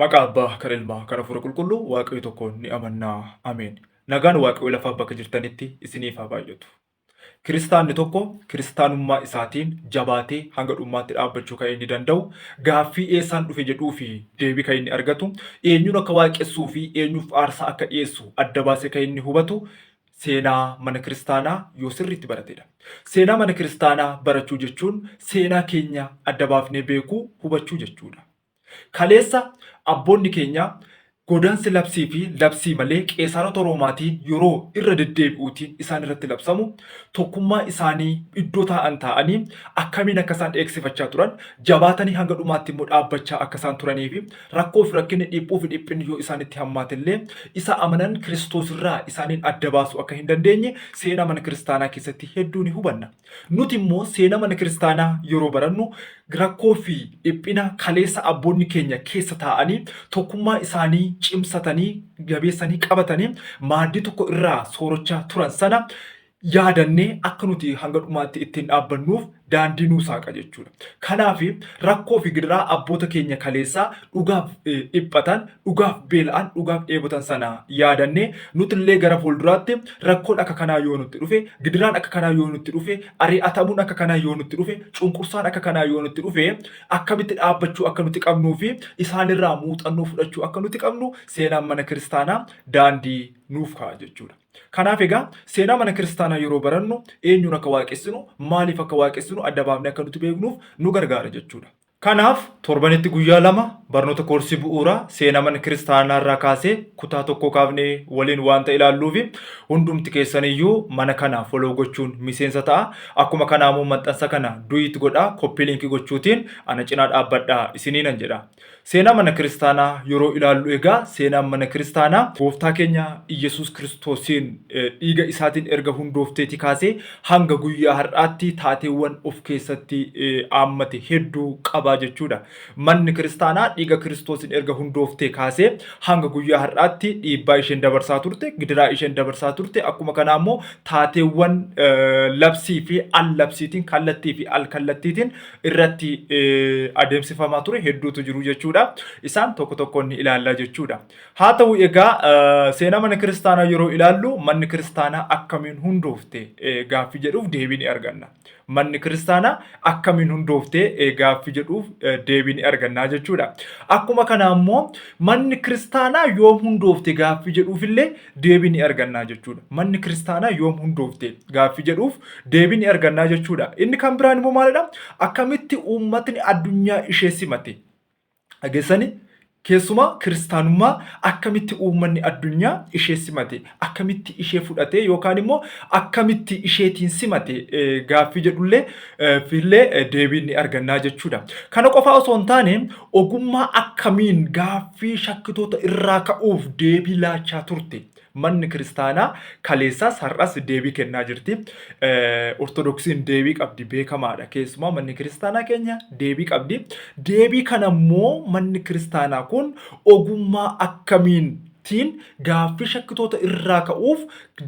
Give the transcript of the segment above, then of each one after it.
Maqaa Abbaa, kan Ilmaa, kan Hafuura Qulqulluu Waaqayyo tokkoon ni amanna. Ameen. Nagaan Waaqayyo lafaa bakka jirtanitti isiniif haa baay'atu. Kiristaanni tokko kiristaanummaa isaatiin jabaatee hanga dhummaatti dhaabbachuu kan inni danda'u gaaffii eessaan dhufe jedhuu fi deebii kan inni argatu eenyuun akka waaqessuu fi eenyuuf aarsaa akka dhiyeessu adda baasee kan inni hubatu seenaa mana kiristaanaa yoo sirriitti baratedha. Seenaa mana kiristaanaa barachuu jechuun seenaa keenya adda baafnee beekuu, hubachuu jechuudha. Kaleessa abboonni keenya godaansi labsii fi labsii malee qeesaarota Roomaatiin yeroo irra deddeebi'uutiin isaan irratti labsamu tokkummaa isaanii iddoo taa'an taa'anii akkamiin akka isaan eegsifachaa turan jabaatanii hanga dhumaatti immoo dhaabbachaa akka isaan turanii fi Rakkoo fi rakkinni, dhiphuu fi dhiphinni yoo isaanitti hammaate illee, isa amanan Kiristoos irraa isaaniin adda baasuu akka hin dandeenye seenaa mana kiristaanaa keessatti hedduu ni hubanna. Nuti immoo seenaa mana kiristaanaa yeroo barannu rakkoo fi dhiphina kaleessa abboonni keenya keessa taa'anii tokkummaa isaanii cimsatanii jabeessanii qabatanii maaddii tokko irraa soorachaa turan sana yaadannee akka nuti hanga dhumaatti ittiin dhaabbannuuf daandii nuu saaqa jechuudha. Kanaaf rakkoo fi gidiraa abboota keenya kaleessaa dhugaaf dhiphatan, dhugaaf beela'an, dhugaaf dheebotan sana yaadannee nuti illee gara fuulduraatti rakkoon akka kanaa yoo nutti dhufe, gidiraan akka kanaa yoo nutti dhufe, ari'atamuun akka kanaa yoo nutti dhufe, cunqursaan akka kanaa yoo nutti dhufe akkamitti dhaabbachuu akka nuti qabnuu fi isaanirraa muuxannoo fudhachuu akka nuti qabnu seenaan mana kiristaanaa daandii nuuf kaa'a jechuudha. Kanaaf egaa seenaa mana kiristaanaa yeroo barannu eenyuun akka waaqessinu, maaliif akka waaqessinu adda baafnee akka nuti beeknuuf nu gargaara jechuudha. Kanaaf torbanitti guyyaa lama barnoota koorsii bu'uuraa seenaa mana kiristaanaa irraa kaasee kutaa tokkoo kaafnee waliin waanta ilaalluufi hundumti keessaniyyuu mana kana follow gochuun miseensa ta'a. Akkuma kanaamoo maxxansa kana duit godhaa copy link gochuutiin ana cinaa dhaabbadhaa isiniinan jedha. Seenaa mana kiristaanaa yeroo ilaallu egaa seenaan mana kiristaanaa gooftaa keenya Iyyesuus Kiristoosiin dhiiga isaatiin erga hundoofteeti kaasee hanga guyyaa har'aatti taateewwan of keessatti aammate hedduu qabaa jechuudha. Manni kiristaanaa dhiiga Kiristoosiin erga hundooftee kaasee hanga guyyaa har'aatti dhiibbaa isheen dabarsaa turte, gidiraa isheen dabarsaa turte, akkuma kanaa immoo taateewwan labsii fi al-labsiitiin kallattii fi al-kallattiitiin irratti adeemsifamaa ture hedduutu jiru jechuudha. Isaan tokko tokkoon ni ilaalla jechuudha. Haa ta'u egaa seenaa mana kiristaanaa yeroo ilaallu manni kiristaanaa akkamiin hundoofte gaaffii jedhuuf deebii ni arganna. Manni kiristaanaa akkamiin hundoofte gaaffii jedhuuf deebii ni arganna jechuudha. Akkuma kana ammoo manni kiristaanaa yoom hundoofte gaaffii jedhuufillee deebii ni argannaa jechuudha. Manni kiristaanaa yoom hundoofte gaaffii jedhuuf deebii ni argannaa jechuudha. Inni kan biraan immoo maalidha? Akkamitti uummatni addunyaa ishee simate? Dhageessanii? Keessumaa kiristaanummaa akkamitti uummanni addunyaa ishee simate? Akkamitti ishee fudhate yookaan immoo akkamitti isheetiin simate gaaffii jedhullee fillee deebii ni argannaa jechuudha. Kana qofaa osoo hin taane ogummaa akkamiin gaaffii shakkitoota irraa ka'uuf deebii laachaa turte. Manni kiristaanaa kaleessaas har'as deebii kennaa jirti. Ortodoksiin deebii qabdi beekamaadha. Keessumaa manni kiristaanaa keenya deebii qabdi. Deebii kana immoo manni kiristaanaa kun ogummaa akkamiin tiin gaaffii shakkitoota irraa ka'uuf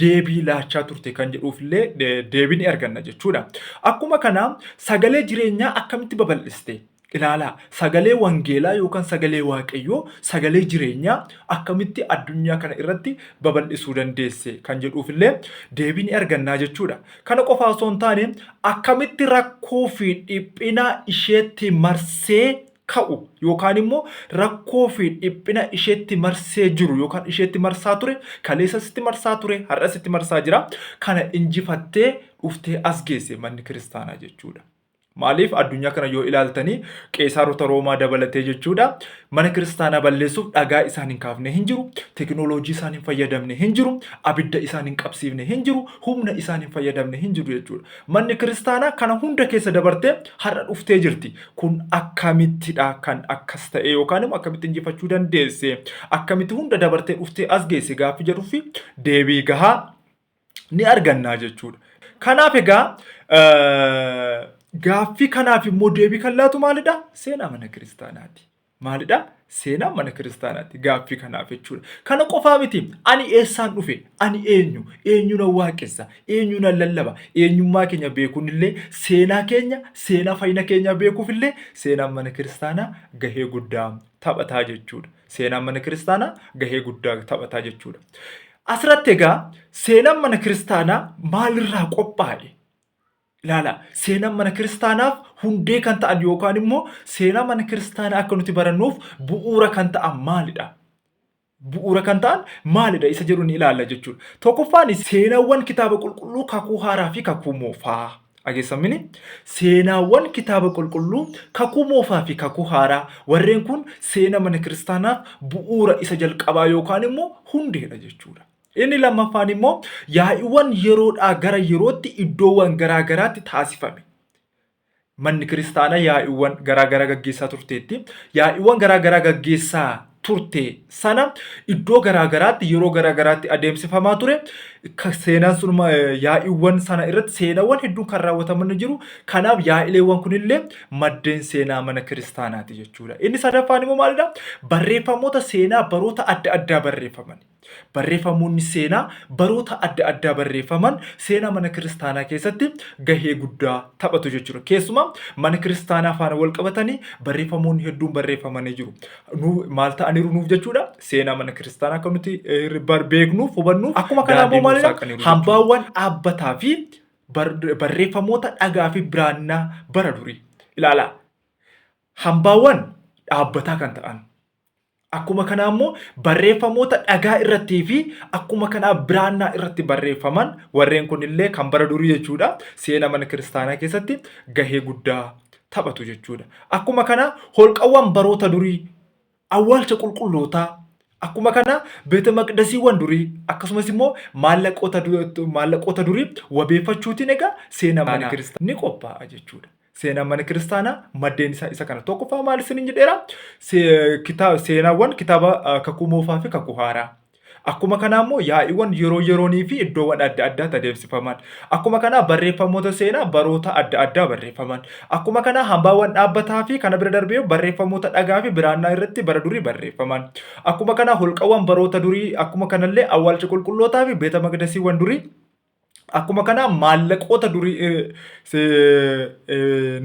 deebii laachaa turte kan jedhuuf illee deebii ni arganna jechuudha. Akkuma kana sagalee jireenyaa akkamitti babal'iste? Ilaalaa sagalee wangeelaa yookaan sagalee waaqayyoo sagalee jireenyaa akkamitti addunyaa kana irratti babal'isuu dandeesse kan jedhuuf illee deebii ni argannaa jechuudha. Kana qofaa osoo hin taane akkamitti rakkoo fi dhiphina isheetti marsee ka'u yookaan immoo rakkoo fi dhiphina isheetti marsee jiru yookaan isheetti marsaa ture kaleessa sitti marsaa ture har'a sitti marsaa jira kana injifattee dhuftee as geesse manni kiristaanaa jechuudha. Maaliif addunyaa kana yoo ilaaltanii qeesaarota roomaa dabalatee jechuudha mana kiristaanaa balleessuuf dhagaa isaan hin kaafne hin jiru tekinooloojii isaan hin fayyadamne hin jiru abidda isaan hin qabsiifne hin jiru humna isaan hin fayyadamne hin jiru jechuudha manni kiristaanaa kana hunda keessa dabartee har'a dhuftee jirti kun akkamittidha kan akkas ta'e yookaan immoo akkamitti injifachuu dandeesse akkamitti hunda dabartee dhuftee as geesse gaaffii jedhuuf deebii gahaa ni argannaa jechuudha. Kanaaf egaa gaaffii kanaaf immoo deebii kan laatu maalidha? Seenaa mana kiristaanaati. maalidha? Seenaa mana kiristaanaati gaaffii kanaaf jechuudha. Kana qofaa miti ani eessaan dhufe? Ani eenyu? Eenyu nan waaqessa? Eenyu nan lallaba? Eenyummaa keenya beekuun illee seenaa keenya seenaa fayyina keenyaa beekuuf illee seenaan mana kiristaanaa gahee guddaa taphataa jechuudha. Seenaan mana kiristaanaa gahee guddaa taphataa jechuudha. Asirratti egaa seenaan mana kiristaanaa maalirraa qophaa'e? Ilaala, seenaan mana kiristaanaaf hundee kan ta'an yookaan immoo seenaa mana kiristaanaa akka nuti barannuuf bu'uura kan ta'an maalidha? Bu'uura kan ta'an maalidha isa jedhu ni ilaalla jechuudha. Tokkoffaan seenaawwan kitaaba qulqulluu kakuu haaraa fi kakuu moofaa. Dhageessamini seenaawwan kitaaba qulqulluu kakuu moofaa fi kakuu haaraa warreen kun seena mana kiristaanaaf bu'uura isa jalqabaa yookaan immoo hundeedha jechuudha. Inni lammaffaan immoo yaa'iiwwan yeroodhaa gara yerootti iddoowwan garaa garaatti taasifame. Manni kiristaanaa yaa'iiwwan garaa garaa gaggeessaa turteetti. Yaa'iiwwan garaa garaa gaggeessaa turte sana iddoo garaa garaatti yeroo garaa garaatti adeemsifamaa ture. Ka- Seenaan sun ma- eh, yaa'iiwwan sana irratti seenaawwan hedduun kan raawwataman ni jiru. Kanaaf yaa'ileewwan kunillee maddeen seenaa mana kiristaanaati jechuudha. Inni sadaffaan immoo maalidha? Barreeffamoota seenaa baroota adda addaa barreeffamani. Barreeffamoonni seenaa baroota adda addaa barreeffaman seenaa mana kiristaanaa keessatti gahee guddaa taphatu jechuudha. Keessumaa mana kiristaanaa faana wal qabatanii barreeffamoonni hedduun barreeffamanii jiru. Nu maal ta'aniiru nuuf jechuudha? Seenaa mana kiristaanaa akka nuti eh, bar- beeknuuf hubannuuf Akkuma kanaa daandii immoo nuuf maalidha? saaqaniiru jechuudha. Hambaawwan dhaabbataa fi bar- barreeffamoota dhagaa fi biraannaa bara durii. Ilaalaa. Hambaawwan dhaabbataa kan ta'an Akkuma kanaa immoo barreeffamoota dhagaa irrattii fi akkuma kanaa biraannaa irratti barreeffaman warreen kun illee kan bara durii jechuudha seena mana kiristaanaa keessatti gahee guddaa taphatu jechuudha. Akkuma kanaa holqawwan baroota durii awwaalcha qulqullootaa akkuma kanaa beeta maqdasiiwwan durii akkasumas immoo maallaqoota durii wabeeffachuutiin egaa seena mana kiristaanaa ni qophaa'a jechuudha. Seenaan mana kiristaanaa maddeen isaa isa kana. Tokkoffaa maal isiniin jedheera? Se- kita- Seenaawwan kitaaba ah, kakuu moofaa fi kakuu haaraa. Akkuma kanaa immoo yaa'iiwwan yeroo yeroonii fi iddoowwan adda addaatti adeemsifaman. Akkuma kanaa barreeffamoota seenaa baroota adda addaa barreeffaman. Akkuma kanaa hambaawwan dhaabbataa fi kana bira darbee barreeffamoota dhagaa fi biraannaa irratti bara durii barreeffaman. Akkuma kanaa holqawwan baroota durii akkuma kanallee awwaalcha qulqullootaa fi beeta maqdasiiwwan durii Akkuma kanaa maallaqoota durii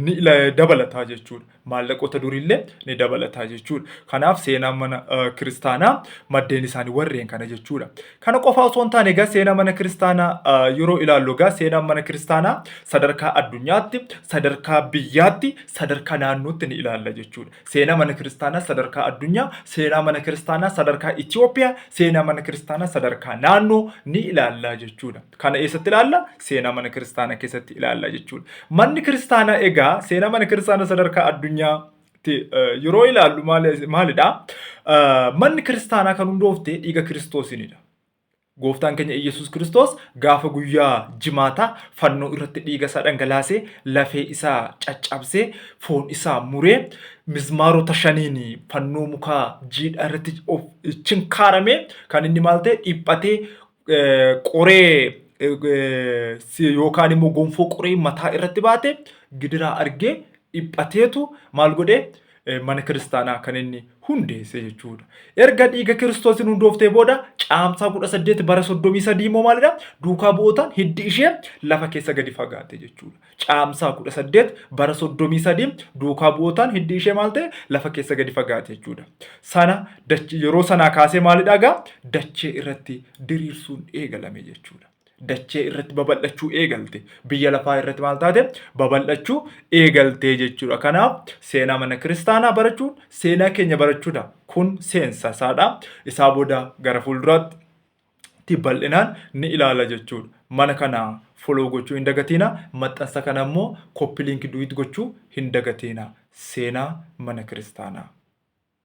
ni dabalataa jechuudha. Maallaqoota duriillee ni dabalataa jechuudha. Kanaaf seenaan mana kiristaanaa maddeen isaanii warreen kana jechuudha. Kana qofaa osoo hin taane egaa seenaa mana kiristaanaa yeroo ilaallu egaa seenaan mana kiristaanaa sadarkaa addunyaatti, sadarkaa biyyaatti, sadarkaa naannootti ni ilaalla jechuudha. Seenaa mana kiristaanaa sadarkaa addunyaa, seenaa mana kiristaanaa sadarkaa Itoophiyaa, seenaa mana kiristaanaa sadarkaa naannoo ni ilaallaa jechuudha. Kana eessatti ilaalla? Seenaa mana kiristaanaa keessatti ilaallaa jechuudha. Manni kiristaanaa egaa seenaa mana kiristaanaa sadarkaa addunyaa yeroo ilaallu maalidha? Manni kiristaanaa kan hundoofte dhiiga kiristoosiinidha. Gooftaan keenya Iyyasuus Kiristoos gaafa guyyaa jimaataa fannoo irratti dhiiga isaa dhangalaasee lafee isaa caccabsee foon isaa muree mizmaarota shaniin fannoo mukaa jiidhaa irratti of chinkaarame kan inni maal ta'e dhiphatee qoree yookaan immoo gonfoo qoree mataa irratti baate gidiraa argee dhiphateetu maal godhee eh, mana kiristaanaa kan inni hundeesse jechuudha. Erga dhiiga kiristoosiin hundooftee booda caamsaa 18 bara 33 immoo maalidha? Duukaa bu'ootaan hiddi ishee lafa keessa gadi fagaate jechuudha. Caamsaa 18 bara 33 duukaa bu'ootaan hiddi ishee maal ta'e? Lafa keessa gadi fagaate jechuudha. Sana dachi- yeroo sanaa kaasee maalidha egaa? Dachee irratti diriirsuun eegalame jechuudha. dachee irratti babal'achuu eegalte. Biyya lafaa irratti maal taate? Babal'achuu eegaltee jechuudha. Kanaaf seenaa mana kiristaanaa barachuun seenaa keenya barachuudha. Kun seensa isaadha. Isaa booda gara fuulduraatti bal'inaan ni ilaala jechuudha. Mana kana foloo gochuu hin dagatiina. Maxxansa kana immoo koppiliinki duwiit gochuu hin dagatiina. Seenaa mana kiristaanaa.